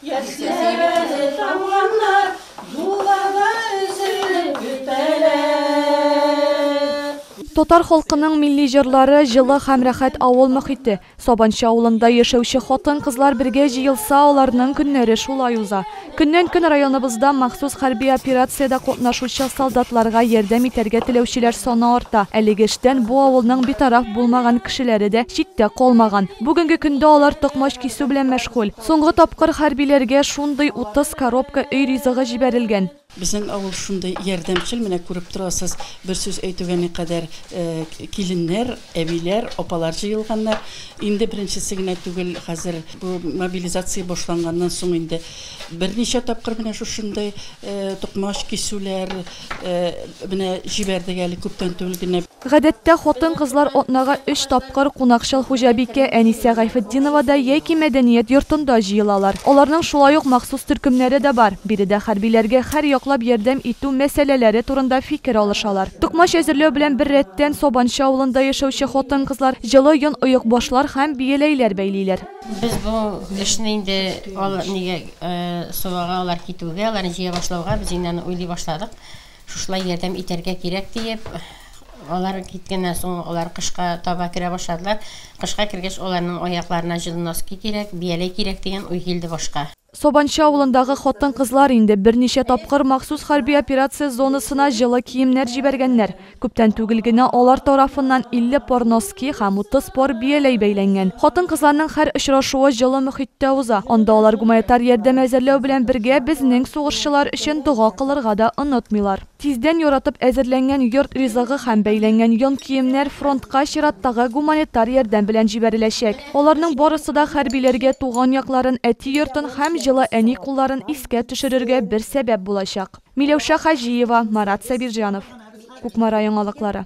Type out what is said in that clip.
Яшьләре тамганнар, юлларда өзелеп бетәләр. Татар халкының милли җырлары, җылы һәм рәхәт авыл мохите. Сабанчы авылында яшәүче хатын-кызлар бергә җыелса, аларның көннәре шулай уза. Көннән-көн районыбызда махсус хәрби операциядә катнашучы солдатларга ярдәм итәргә теләүчеләр саны арта. Әлеге эштән бу авылның битараф булмаган кешеләре дә читтә калмаган. Бүгенге көндә алар токмач кисү белән мәшгуль. Соңгы тапкыр хәрбиләргә шундый 30 коробка өй ризыгы җибәрелгән. Безнең авыл шундый ярдәмчел, менә күреп торасыз, бер сүз әйтүгә никадәр киленнәр, әбиләр, апалар җыелганнар. Инде беренчесе генә түгел, хәзер бу мобилизация башланганнан соң инде берничә тапкыр менә шушындый токмач, кисүләр менә җибәрдек әле күптән түгел генә. Гадәттә, хатын-кызлар атнага өч тапкыр кунакчыл хуҗабикә Әнисә Гайфетдиновада яки мәдәният йортында җыелалар. Аларның шулай ук махсус төркемнәре дә бар. Биредә хәрбиләргә һәр яклап ярдәм итү мәсьәләләре турында фикер алышалар. Токмач әзерләү белән бер рәттән, Сабанчы авылында яшәүче хатын-кызлар җылы йон оекбашлар һәм бияләйләр бәйлиләр. Без бу эшне инде алар нигә сылуга, алар китүгә, аларны җыя башлауга, без инде аны уйлый башладык. Шушылай ярдәм итәргә кирәк, диеп, алар киткәннән соң, алар кышка таба керә башладылар. Кышка кергәч, аларның аякларына җылы носки кирәк, бияләй кирәк дигән уй килде башка. Сабанчы авылындагы хатын-кызлар инде берничә тапкыр махсус хәрби операция зонасына җылы киемнәр җибәргәннәр. Күптән түгел генә алар тарафыннан 50 пар носки, Ки һәм утыз пар бияләй бәйләнгән. Хатын-кызларның һәр очрашуы җылы мөхиттә уза. Анда алар гуманитар ярдәм әзерләү белән бергә безнең сугышчылар өчен дога кылырга да онытмыйлар. Тиздән яратып әзерләнгән йорт ризыгы һәм бәйләнгән йон киемнәр фронтка чираттагы гуманитар ярдәм белән җибәреләчәк. Аларның барысы да хәрбиләргә туган якларын, әти йортын һәм җылы әни кулларын искә төшерергә бер сәбәп булачак. Миләүшә Хаҗиева, Марат Сабирҗанов. Кукмара яңалыклары.